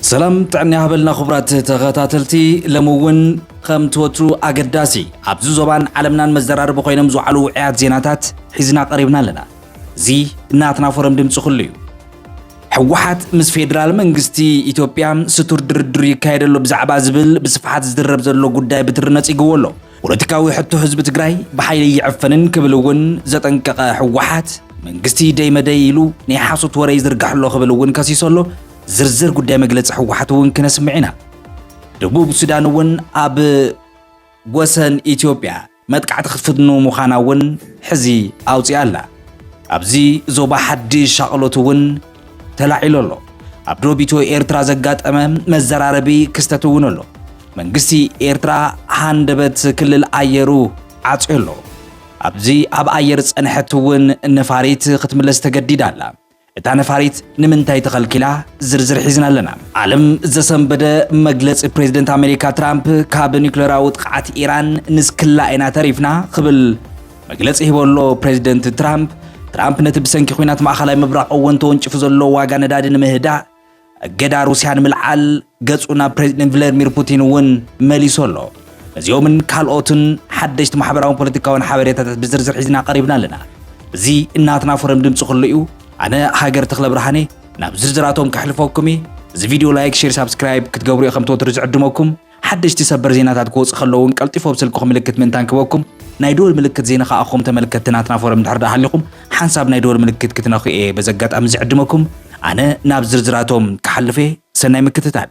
ሰላም ጥዕና ይሃበልና ክቡራት ተኸታተልቲ ሎሚ እውን ከምቲ ወትሩ ኣገዳሲ ኣብዚ ዞባን ዓለምናን መዘራረቢ ኮይኖም ዝውዓሉ ውዕያት ዜናታት ሒዝና ቀሪብና ኣለና እዚ ናትና ፎረም ድምፂ ኩሉ እዩ ህወሓት ምስ ፌዴራል መንግስቲ ኢትዮጵያ ስቱር ድርድር ይካየደሉ ብዛዕባ ዝብል ብስፍሓት ዝድረብ ዘሎ ጉዳይ ብትሪ ነፂግዎ ኣሎ። ፖለቲካዊ ሕቶ ህዝቢ ትግራይ ብሓይሊ ኣይዕፈንን ክብል እውን ዘጠንቀቐ ህወሓት፣ መንግስቲ ደይ መደይ ኢሉ ናይ ሓሶት ወረ ይዝርግሕ ኣሎ ክብል እውን ከሲሱ ኣሎ። ዝርዝር ጉዳይ መግለፂ ህወሓት እውን ክነስምዕ ኢና። ደቡብ ሱዳን እውን ኣብ ወሰን ኢትዮጵያ መጥቃዕቲ ክትፍኑ ምዃና እውን ሕዚ ኣውፂኣ ኣላ። ኣብዚ ዞባ ሓድሽ ሻቕሎት እውን ተላዒሉ ኣሎ። ኣብ ዶብ ኢትዮ ኤርትራ ዘጋጠመ መዘራረቢ ክስተት እውን ኣሎ። መንግስቲ ኤርትራ ሃንደበት ክልል ኣየሩ ዓጽዮ ኣሎ። ኣብዚ ኣብ ኣየር ጸንሐት እውን ነፋሪት ክትምለስ ተገዲዳ ኣላ። እታ ነፋሪት ንምንታይ ተኸልኪላ ዝርዝር ሒዝና ኣለና። ዓለም ዘሰንበደ መግለጺ ፕሬዝደንት ኣሜሪካ ትራምፕ ካብ ኒውክለራዊ ጥቕዓት ኢራን ንስክላ ኢና ተሪፍና ክብል መግለጺ ሂቡ ኣሎ ፕሬዚደንት ትራምፕ። ትራምፕ ነቲ ብሰንኪ ኲናት ማእኸላይ ምብራቕ እወን ተወንጭፉ ዘሎ ዋጋ ነዳዲ ንምህዳእ እገዳ ሩስያ ንምልዓል ገጹ ናብ ፕሬዚደንት ቭላድሚር ፑቲን እውን መሊሱ ኣሎ። ነዚኦምን ካልኦትን ሓደሽቲ ማሕበራውን ፖለቲካውን ሓበሬታታት ብዝርዝር ሒዝና ቀሪብና ኣለና። እዚ እናትና ፎረም ድምፂ ኩሉ እዩ። ኣነ ሃገር ተክለ ብርሃኔ ናብ ዝርዝራቶም ከሕልፈኩም እየ። እዚ ቪድዮ ላይክ፣ ሼር፣ ሳብስክራይብ ክትገብሩ እየ ከም ተወትሩ ዝዕድመኩም። ሓደሽቲ ሰበር ዜናታት ክወጹ ከለዉን ቀልጢፉ ኣብ ስልክኹም ምልክት ምእንታን ክበኩም ናይ ደወል ምልክት ዘይነኻ ኣኹም ተመልከትቲ ናትና ፎረም እንድሕር ደኣ ሃሊኹም ሓንሳብ ናይ ደወል ምልክት ክትነኹ እየ በዚ ኣጋጣሚ ዝዕድመኩም ኣነ ናብ ዝርዝራቶም ክሓልፍ እየ ሰናይ ምክትታል።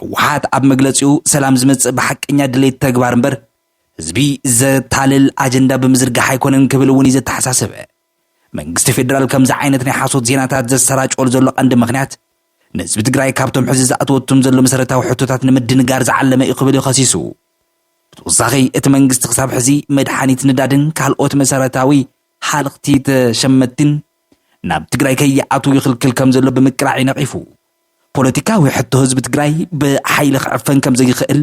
ህወሓት ኣብ መግለፂኡ ሰላም ዝመፅእ ብሓቀኛ ድሌት ተግባር እምበር ህዝቢ ዘታልል ኣጀንዳ ብምዝርጋሕ ኣይኮነን ክብል እውን እዩ ዘተሓሳስበ። መንግስቲ ፌዴራል ከምዚ ዓይነት ናይ ሓሶት ዜናታት ዘሰራጨወሉ ዘሎ ቀንዲ ምክንያት ንህዝቢ ትግራይ ካብቶም ሕዚ ዝኣተወቱም ዘሎ መሰረታዊ ሕቶታት ንምድንጋር ዝዓለመ እዩ ክብል እዩ ከሲሱ። ብተወሳኺ እቲ መንግስቲ ክሳብ ሕዚ መድሓኒት ንዳድን ካልኦት መሰረታዊ ሃልኽቲ ተሸመትቲን ናብ ትግራይ ከይኣትዉ ይኽልክል ከም ዘሎ ብምቅላዕ እዩ ነቒፉ። ፖለቲካዊ ሕቶ ህዝቢ ትግራይ ብሓይሊ ክዕፈን ከም ዘይኽእል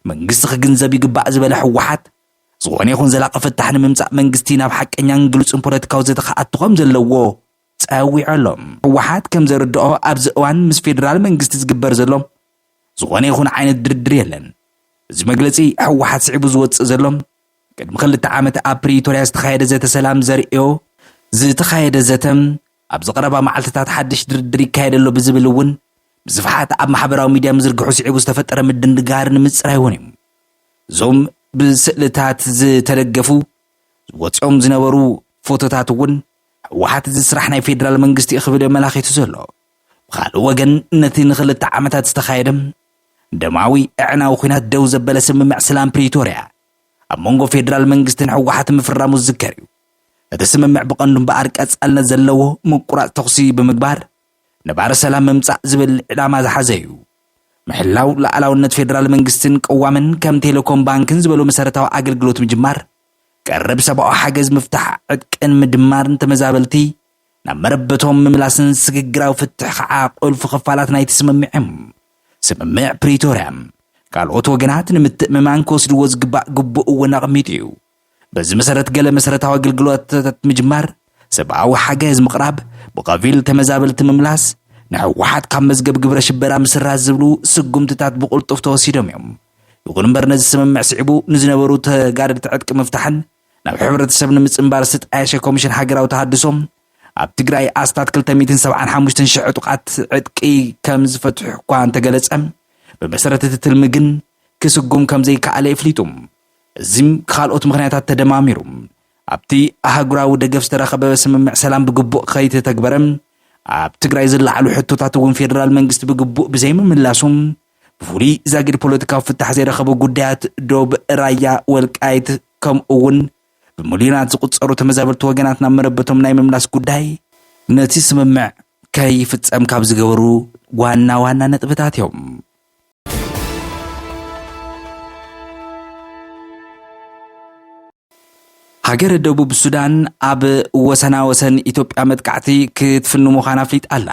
መንግስቲ ክግንዘብ ይግባእ ዝበለ ህወሓት፣ ዝኾነ ይኹን ዘላቒ ፍታሕ ንምምፃእ መንግስቲ ናብ ሓቀኛን ግሉፅን ፖለቲካዊ ዘተ ክኣቱ ከም ዘለዎ ጸዊዑ ኣሎ። ህወሓት ከም ዘርድኦ ኣብዚ እዋን ምስ ፌደራል መንግስቲ ዝግበር ዘሎ ዝኾነ ይኹን ዓይነት ድርድር የለን። እዚ መግለፂ ህወሓት ስዒቡ ዝወፅእ ዘሎ ቅድሚ ክልተ ዓመት ኣብ ፕሪቶርያ ዝተኻየደ ዘተ ሰላም ዘርእዮ ዝተኻየደ ዘተ ኣብዚ ቀረባ መዓልትታት ሓድሽ ድርድር ይካየድ ኣሎ ብዝብል እውን ብስፍሓት ኣብ ማሕበራዊ ሚድያ ምዝርግሑ ስዒቡ ዝተፈጠረ ምድንጋር ንምፅራይ እውን እዩ። እዞም ብስእልታት ዝተደገፉ ወፂኦም ዝነበሩ ፎቶታት እውን ህወሓት እዚ ስራሕ ናይ ፌዴራል መንግስቲ እዩ ክብል የመላኺቱ ዘሎ። ብኻልእ ወገን ነቲ ንክልተ ዓመታት ዝተኻየደ ደማዊ ኣዕናዊ ኩናት ደው ዘበለ ስምምዕ ስላም ፕሪቶርያ ኣብ መንጎ ፌዴራል መንግስትን ህወሓት ምፍራሙ ዝዝከር እዩ። እቲ ስምምዕ ብቐንዱ እምበኣር ቀጻልነት ዘለዎ ምቁራጽ ተኹሲ ብምግባር ነባሪ ሰላም ምምጻእ ዝብል ዕላማ ዝሓዘ እዩ። ምሕላው ሉኣላውነት ፌደራል መንግስትን ቅዋምን፣ ከም ቴሌኮም ባንክን ዝበሉ መሰረታዊ ኣገልግሎት ምጅማር፣ ቀረብ ሰብኣዊ ሓገዝ ምፍታሕ ዕጥቅን ምድማርን ተመዛበልቲ ናብ መረበቶም ምምላስን ስግግራዊ ፍትሕ ከኣ ቁልፊ ክፋላት ናይቲ ስምምዕ እዮም። ስምምዕ ፕሪቶርያ ካልኦት ወገናት ንምትእምማን ክወስድዎ ዝግባእ ግቡእ እውን ኣቕሚጡ እዩ። በዚ መሰረት ገለ መሰረታዊ ኣገልግሎታት ምጅማር፣ ሰብኣዊ ሓገዝ ምቕራብ፣ ብኸፊል ተመዛበልቲ ምምላስ፣ ንሕወሓት ካብ መዝገብ ግብረ ሽበራ ምስራዝ ዝብሉ ስጉምትታት ብቕልጡፍ ተወሲዶም እዮም። ይኹን እምበር ነዚ ስምምዕ ስዒቡ ንዝነበሩ ተጋደልቲ ዕጥቂ ምፍታሕን ናብ ሕብረተሰብ ንምጽንባር ዝተጣየሸ ኮሚሽን ሃገራዊ ተሃድሶ ኣብ ትግራይ ኣስታት 275 ሽሕ ዕጡቓት ዕጥቂ ከም ዝፈትሑ እኳ እንተገለጸ ብመሰረት እቲ ትልሚ ግን ክስጉም ከም ዘይከኣለ የፍሊጡ። እዚም ብካልኦት ምኽንያታት ተደማሚሩ ኣብቲ ኣህጉራዊ ደገፍ ዝተረኸበ ስምምዕ ሰላም ብግቡእ ከይተተግበረ ኣብ ትግራይ ዝለዓሉ ሕቶታት እውን ፌደራል መንግስቲ ብግቡእ ብዘይምምላሱ ብፍሉይ ዛጊድ ፖለቲካዊ ፍታሕ ዘይረኸቡ ጉዳያት ዶብ ራያ ወልቃይት ከምኡ እውን ብምልዮናት ዝቁፀሩ ተመዛበልቲ ወገናት ናብ መረበቶም ናይ ምምላስ ጉዳይ ነቲ ስምምዕ ከይፍፀም ካብ ዝገበሩ ዋና ዋና ነጥብታት እዮም። ሃገረ ደቡብ ሱዳን ኣብ ወሰና ወሰን ኢትዮጵያ መጥቃዕቲ ክትፍኑ ምዃና ኣፍሊጣ ኣላ።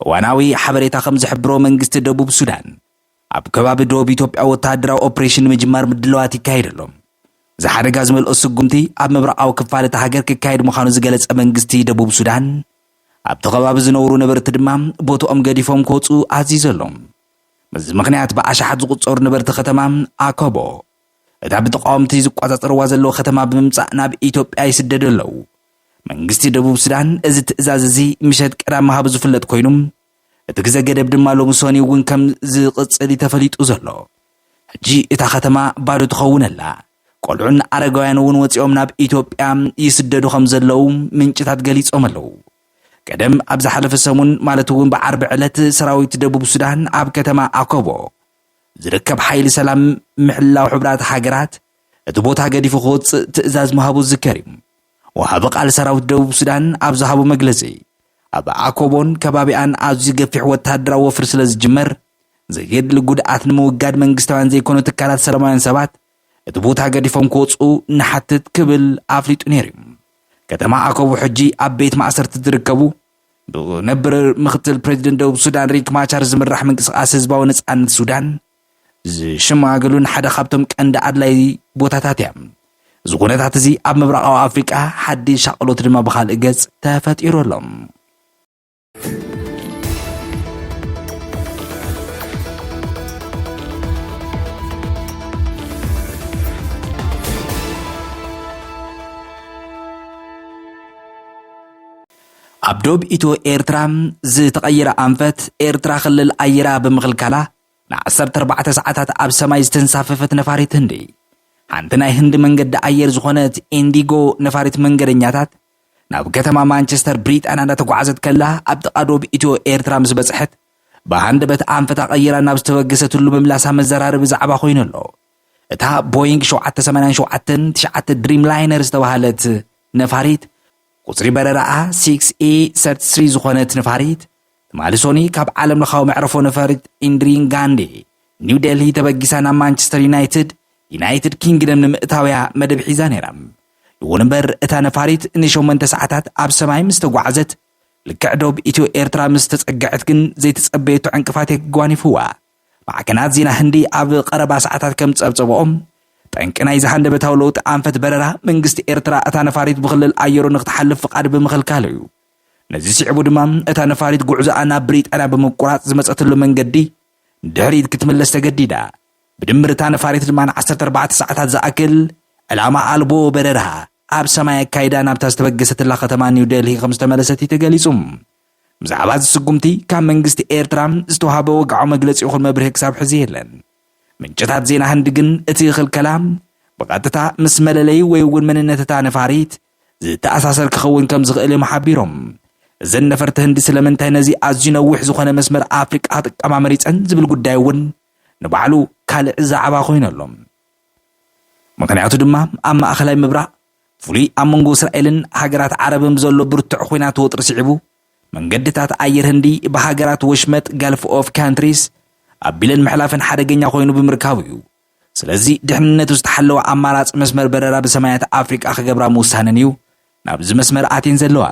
እዋናዊ ሓበሬታ ከም ዝሕብሮ መንግስቲ ደቡብ ሱዳን ኣብ ከባቢ ዶብ ኢትዮጵያ ወተሃደራዊ ኦፕሬሽን ንምጅማር ምድለዋት ይካየድ ኣሎ። እዚ ሓደጋ ዝመልኦ ስጉምቲ ኣብ ምብራቓዊ ክፋል እታ ሃገር ክካየድ ምዃኑ ዝገለጸ መንግስቲ ደቡብ ሱዳን ኣብቲ ከባቢ ዝነብሩ ነበርቲ ድማ ቦትኦም ገዲፎም ክወጽኡ ኣዚዘ ኣሎ። በዚ ምኽንያት ብኣሽሓት ዝቑጸሩ ነበርቲ ከተማ ኣኮቦ እታ ብተቓወምቲ ዝቆጻጸርዋ ዘለዉ ከተማ ብምምጻእ ናብ ኢትዮጵያ ይስደዱ ኣለዉ። መንግስቲ ደቡብ ሱዳን እዚ ትእዛዝ እዚ ምሸት ቀዳም ምሃቡ ዝፍለጥ ኮይኑ፣ እቲ ግዘ ገደብ ድማ ሎሚ ሰኑይ እውን ከም ዝቕፅል እዩ ተፈሊጡ ዘሎ። ሕጂ እታ ከተማ ባዶ ትኸውን ኣላ። ቆልዑን ኣረጋውያን እውን ወፂኦም ናብ ኢትዮጵያ ይስደዱ ከም ዘለዉ ምንጭታት ገሊፆም ኣለዉ። ቀደም ኣብ ዝሓለፈ ሰሙን ማለት እውን ብዓርቢ ዕለት ሰራዊት ደቡብ ሱዳን ኣብ ከተማ ኣኮቦ ዝርከብ ሓይሊ ሰላም ምሕላው ሕብራት ሃገራት እቲ ቦታ ገዲፉ ክወፅእ ትእዛዝ ምሃቡ ዝዝከር እዩ። ወሃቢ ቃል ሰራዊት ደቡብ ሱዳን ኣብ ዝሃቦ መግለጺ፣ ኣብ ኣኮቦን ከባቢኣን ኣዝዩ ገፊሕ ወተሃደራዊ ወፍሪ ስለ ዝጅመር፣ ዘየድሊ ጉድኣት ንምውጋድ መንግስታውያን ዘይኮኑ ትካላት ሰለማውያን ሰባት እቲ ቦታ ገዲፎም ክወጽኡ ንሓትት ክብል ኣፍሊጡ ነይሩ'ዩ። ከተማ ኣኮቦ ሕጂ ኣብ ቤት ማእሰርቲ ዝርከቡ ብነበር ምኽትል ፕረዚደንት ደቡብ ሱዳን ሪክ ማቻር ዝምራሕ ምንቅስቓስ ህዝባዊ ነጻነት ሱዳን ዝሸመጋገሉን ሓደ ካብቶም ቀንዲ ኣድላይ ቦታታት እያ። እዚ ኩነታት እዚ ኣብ ምብራቓዊ ኣፍሪቃ ሓድሽ ሻቕሎት ድማ ብኻልእ ገጽ ተፈጢሩ ኣሎ። ኣብ ዶብ ኢትዮ ኤርትራ ዝተቐየረ ኣንፈት ኤርትራ ክልል ኣየራ ብምኽልካላ ንዓሰርተ ኣርባዕተ ሰዓታት ኣብ ሰማይ ዝተንሳፈፈት ነፋሪት ህንዲ፣ ሓንቲ ናይ ህንዲ መንገዲ ኣየር ዝኾነት ኢንዲጎ ነፋሪት መንገደኛታት፣ ናብ ከተማ ማንቸስተር ብሪጣንያ እንዳተጓዓዘት ከላ ኣብ ጥቓ ዶብ ኢትዮ ኤርትራ ምስ በጽሐት ብሃንደበት ኣንፈታ ቀይራ ናብ ዝተበገሰትሉ ምምላሳ መዘራረቢ ዛዕባ ኮይኑ ኣሎ። እታ ቦይንግ ሸውዓተ ሰማንያን ሸውዓተን ትሽዓተ ድሪም ላይነር ዝተባህለት ነፋሪት ቁጽሪ በረራኣ ሲክስ ኤ ሰርቲስሪ ዝኾነት ነፋሪት ትማሊ ሶኑይ ካብ ዓለምለኻዊ መዕረፎ ነፈሪት ኢንድሪን ጋንዲ ኒው ዴልሂ ተበጊሳ ናብ ማንቸስተር ዩናይትድ ዩናይትድ ኪንግደም ንምእታውያ መደብ ሒዛ ነይራ። ይኹን እምበር እታ ነፋሪት ንሸሞንተ ሰዓታት ኣብ ሰማይ ምስ ተጓዕዘት ልክዕ ዶብ ኢትዮ ኤርትራ ምስ ተጸግዐት ግን ዘይተጸበየቶ ዕንቅፋት የጓኒፍዋ። ማዕከናት ዜና ህንዲ ኣብ ቀረባ ሰዓታት ከም ዝጸብጸበኦ ጠንቂ ናይዚ ሃንደበታዊ ለውጢ ኣንፈት በረራ መንግስቲ ኤርትራ እታ ነፋሪት ብክልል ኣየሩ ንክትሓልፍ ፍቓድ ብምኽልካሉ እዩ። ነዚ ስዒቡ ድማ እታ ነፋሪት ጉዕዞኣ ናብ ብሪጣንያ ብምቁራጽ ዝመጸትሉ መንገዲ ንድሕሪት ክትምለስ ተገዲዳ። ብድምር እታ ነፋሪት ድማ ንዓሰርተ ኣርባዕተ ሰዓታት ዝኣክል ዕላማ ኣልቦ በረራ ኣብ ሰማይ ኣካይዳ ናብታ ዝተበገሰትላ ከተማ ኒው ደልሂ ከም ዝተመለሰት እዩ ተገሊጹ። ብዛዕባ እዚ ስጉምቲ ካብ መንግስቲ ኤርትራ ዝተዋህበ ወግዓዊ መግለጺ ይኹን መብርሂ ክሳብ ሕዚ የለን። ምንጭታት ዜና ህንዲ ግን እቲ ክልከላ ብቐጥታ ምስ መለለዪ ወይ እውን መንነት እታ ነፋሪት ዝተኣሳሰር ክኸውን ከም ዝኽእል እዮም ሓቢሮም። እዘን ነፈርቲ ህንዲ ስለምንታይ ነዚ ኣዝዩ ነዊሕ ዝኾነ መስመር ኣፍሪቃ ክጥቀማ መሪጸን ዝብል ጉዳይ እውን ንባዕሉ ካልእ ዛዕባ ኮይኑ ኣሎ። ምኽንያቱ ድማ ኣብ ማእኸላይ ምብራቕ ፍሉይ ኣብ መንጎ እስራኤልን ሃገራት ዓረብን ብዘሎ ብርቱዕ ኹናት ወጥሪ ስዒቡ መንገድታት ኣየር ህንዲ ብሃገራት ወሽመጥ ጋልፍ ኦፍ ካንትሪስ ኣቢለን ምሕላፈን ሓደገኛ ኮይኑ ብምርካቡ እዩ። ስለዚ ድሕንነቱ ዝተሓለወ ኣማራፂ መስመር በረራ ብሰማያት ኣፍሪቃ ክገብራ ምውሳነን እዩ ናብዚ መስመር ኣትየን ዘለዋ።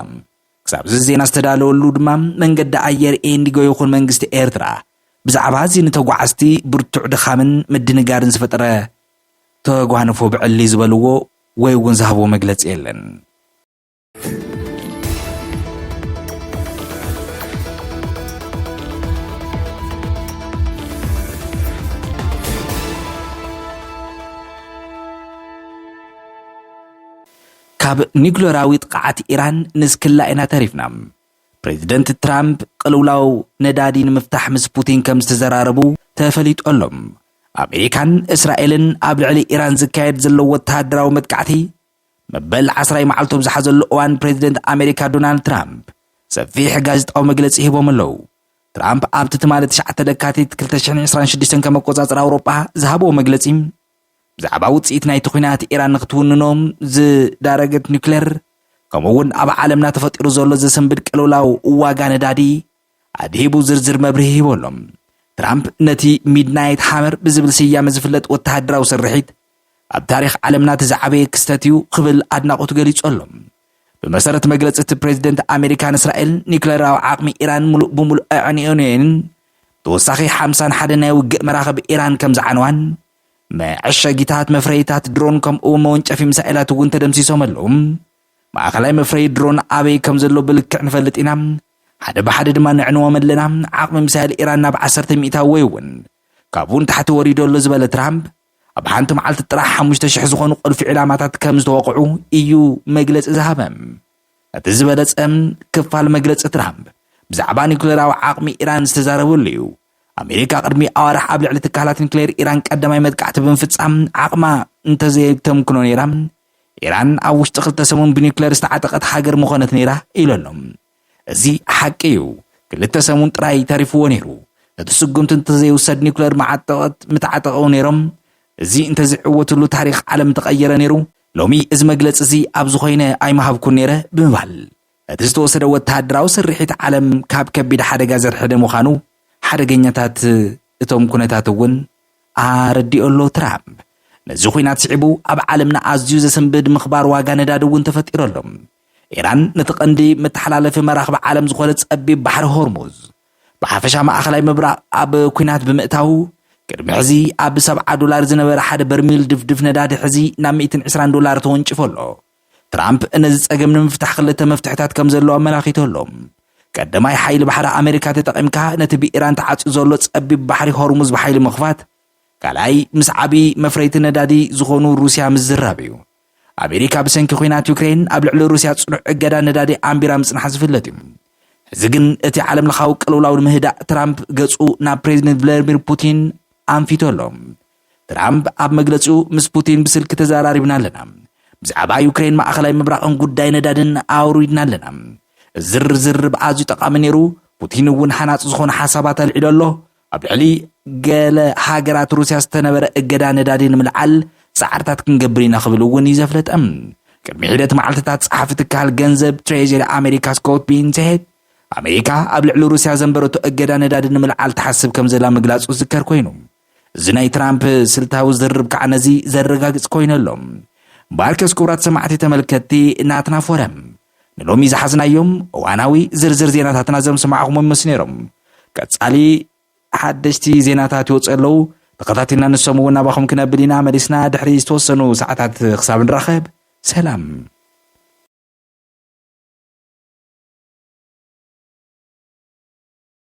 ክሳብዚ ዜና ዝተዳለወሉ ድማ መንገዲ ኣየር ኤንዲጎ ይኹን መንግስቲ ኤርትራ ብዛዕባ እዚ ንተጓዓዝቲ ብርቱዕ ድኻምን ምድንጋርን ዝፈጠረ ተጓንፎ ብዕሊ ዝበልዎ ወይ እውን ዝሃብዎ መግለፂ የለን። ካብ ኒክለራዊ ጥቕዓት ኢራን ንስክላ ኢና ተሪፍና። ፕሬዚደንት ትራምፕ ቅልውላው ነዳዲ ንምፍታሕ ምስ ፑቲን ከም ዝተዘራረቡ ተፈሊጡ ኣሎ። ኣሜሪካን እስራኤልን ኣብ ልዕሊ ኢራን ዝካየድ ዘሎ ወተሃደራዊ መጥቃዕቲ መበል ዓስራይ መዓልቱ ኣብ ዝሓዘሉ እዋን ፕሬዚደንት ኣሜሪካ ዶናልድ ትራምፕ ሰፊሕ ጋዜጣዊ መግለፂ ሂቦም ኣለው። ትራምፕ ኣብቲ ትማሊ ትሽዓተ ለካቲት ክልተ ሽሕን ዕስራን ሽዱሽተን ከም ኣቆፃፅራ ኣውሮጳ ዝሃብዎ መግለፂ ብዛዕባ ውፅኢት ናይቲ ኲናት ኢራን ንክትውንኖ ዝዳረገት ኒውክለር ከምኡ እውን ኣብ ዓለምና ተፈጢሩ ዘሎ ዘሰንብድ ቅልውላው ዋጋ ነዳዲ ኣድሂቡ ዝርዝር መብርሂ ሂቡ ኣሎ። ትራምፕ ነቲ ሚድናይት ሃመር ብዝብል ስያመ ዝፍለጥ ወተሃደራዊ ስርሒት፣ ኣብ ታሪኽ ዓለምና እቲ ዝዓበየ ክስተት'ዩ ክብል ኣድናቖቱ ገሊጹ ኣሎ። ብመሰረት መግለጺ እቲ ፕረዚደንት፣ ኣመሪካን እስራኤልን ኒዩክለራዊ ዓቕሚ ኢራን ምሉእ ብምሉእ ኣዕንየን'የን፣ ተወሳኺ ሓምሳን ሓደ ናይ ውግእ መራኽብ ኢራን ከምዝዓነዋን መዐሸጊታት መፍረዪታት ድሮን ከምኡ'ውን መወንጨፊ ሚሳኤላት'ውን ተደምሲሶም ኣለዉ። ማእከላይ መፍረዪ ድሮን ኣበይ ከምዘሎ ብልክዕ ንፈልጥ ኢና፣ ሓደ ብሓደ ድማ ነዕንዎም ኣለና፣ ዓቕሚ ሚሳይል ኢራን ናብ ዓሰርተ ሚእታዊ ወይ እውን ካብኡ ንታሕቲ ወሪዱ ኣሎ ዝበለ ትራምፕ፣ ኣብ ሓንቲ መዓልቲ ጥራሕ ሓሙሽተ ሽሕ ዝኾኑ ቁልፊ ዒላማታት ከም ዝተወቕዑ እዩ መግለጺ ዝሃበ። እቲ ዝበለጸ ክፋል መግለጺ ትራምፕ ብዛዕባ ኒኩሌራዊ ዓቕሚ ኢራን ዝተዛረበሉ እዩ። ኣሜሪካ ቅድሚ ኣዋርሕ ኣብ ልዕሊ ትካላት ኒክሌር ኢራን ቀዳማይ መጥቃዕቲ ብምፍጻም ዓቕማ እንተዘየተምክኖ ነይራ ኢራን ኣብ ውሽጢ ክልተ ሰሙን ብኒዩክለር ዝተዓጠቐት ሃገር ምኾነት ነይራ ኢሉ ኣሎ። እዚ ሓቂ እዩ። ክልተ ሰሙን ጥራይ ተሪፍዎ ነይሩ። እቲ ስጉምቲ እንተዘይውሰድ ኒዩክለር መዓጠቐት ምተዓጠቐው ነይሮም። እዚ እንተዝዕወትሉ ታሪኽ ዓለም ምተቐየረ ነይሩ። ሎሚ እዚ መግለጺ እዚ ኣብዚ ኮይነ ኣይምሃብኩን ነይረ ብምባል እቲ ዝተወሰደ ወተሃደራዊ ስርሒት ዓለም ካብ ከቢድ ሓደጋ ዘርሕደ ምዃኑ ሓደገኛታት እቶም ኩነታት እውን ኣረዲኦ ኣሎ ትራምፕ። ነዚ ኲናት ስዒቡ ኣብ ዓለምና ኣዝዩ ዘሰንብድ ምኽባር ዋጋ ነዳዲ እውን ተፈጢሩ ኣሎ። ኢራን ነቲ ቀንዲ መተሓላለፊ መራኽብ ዓለም ዝኾነ ጸቢብ ባሕሪ ሆርሙዝ ብሓፈሻ ማእኸላይ ምብራቕ ኣብ ኲናት ብምእታው ቅድሚ ሕዚ ኣብ ሰብዓ ዶላር ዝነበረ ሓደ በርሚል ድፍድፍ ነዳዲ ሕዚ ናብ ሚእትን ዕስራን ዶላር ተወንጭፎ ኣሎ። ትራምፕ ነዚ ጸገም ንምፍታሕ ክልተ መፍትሕታት ከም ዘለዎ ኣመላኺቱ ኣሎ። ቀዳማይ፣ ሓይሊ ባሕሪ ኣመሪካ ተጠቒምካ ነቲ ብኢራን ተዓጽዩ ዘሎ ጸቢብ ባሕሪ ሆርሙዝ ብሓይሊ ምኽፋት። ካልኣይ፣ ምስ ዓቢ መፍረይቲ ነዳዲ ዝኾኑ ሩስያ ምዝራብ እዩ። ኣመሪካ ብሰንኪ ኲናት ዩክረይን ኣብ ልዕሊ ሩስያ ጽኑዕ እገዳ ነዳዲ ኣንቢራ ምጽናሓ ዝፍለጥ እዩ። ሕዚ ግን እቲ ዓለምለኻዊ ቅልውላው ንምህዳእ ትራምፕ ገጹ ናብ ፕሬዚደንት ቭላድሚር ፑቲን ኣንፊቱ ኣሎ። ትራምፕ ኣብ መግለጺኡ ምስ ፑቲን ብስልኪ ተዘራሪብና ኣለና፣ ብዛዕባ ዩክሬን ማእኸላይ ምብራቕን ጉዳይ ነዳድን ኣውሪድና ኣለና፣ እዚ ዝርርብ ኣዝዩ ጠቓሚ ነይሩ፣ ፑቲን እውን ሃናጺ ዝኾኑ ሓሳባት ኣልዒሉ ኣሎ፣ ኣብ ልዕሊ ገለ ሃገራት ሩስያ ዝተነበረ እገዳ ነዳዲ ንምልዓል ጻዕርታት ክንገብር ኢና ክብል እውን እዩ ዘፍለጠ። ቅድሚ ሒደት መዓልትታት ጸሓፊ ትካል ገንዘብ ትሬጀሪ ኣሜሪካ ስኮት ቢንሴት ኣሜሪካ ኣብ ልዕሊ ሩስያ ዘንበረቶ እገዳ ነዳዲ ንምልዓል ትሓስብ ከም ዘላ ምግላጹ ዝዝከር ኮይኑ እዚ ናይ ትራምፕ ስልታዊ ዝርርብ ከዓ ነዚ ዘረጋግፅ ኮይኑ ኣሎ። ባርከስ ክቡራት ሰማዕቲ ተመልከትቲ ናትና ፎረም ንሎሚ ዝሓዝናዮም እዋናዊ ዝርዝር ዜናታትና ዘም ሰማዕኹሞም ምስ ነይሮም ቀጻሊ ሓደሽቲ ዜናታት ይወፁ ኣለዉ ተኸታቲልና ንሶም እውን ናባኹም ክነብል ኢና መሊስና ድሕሪ ዝተወሰኑ ሰዓታት ክሳብ ንራኸብ ሰላም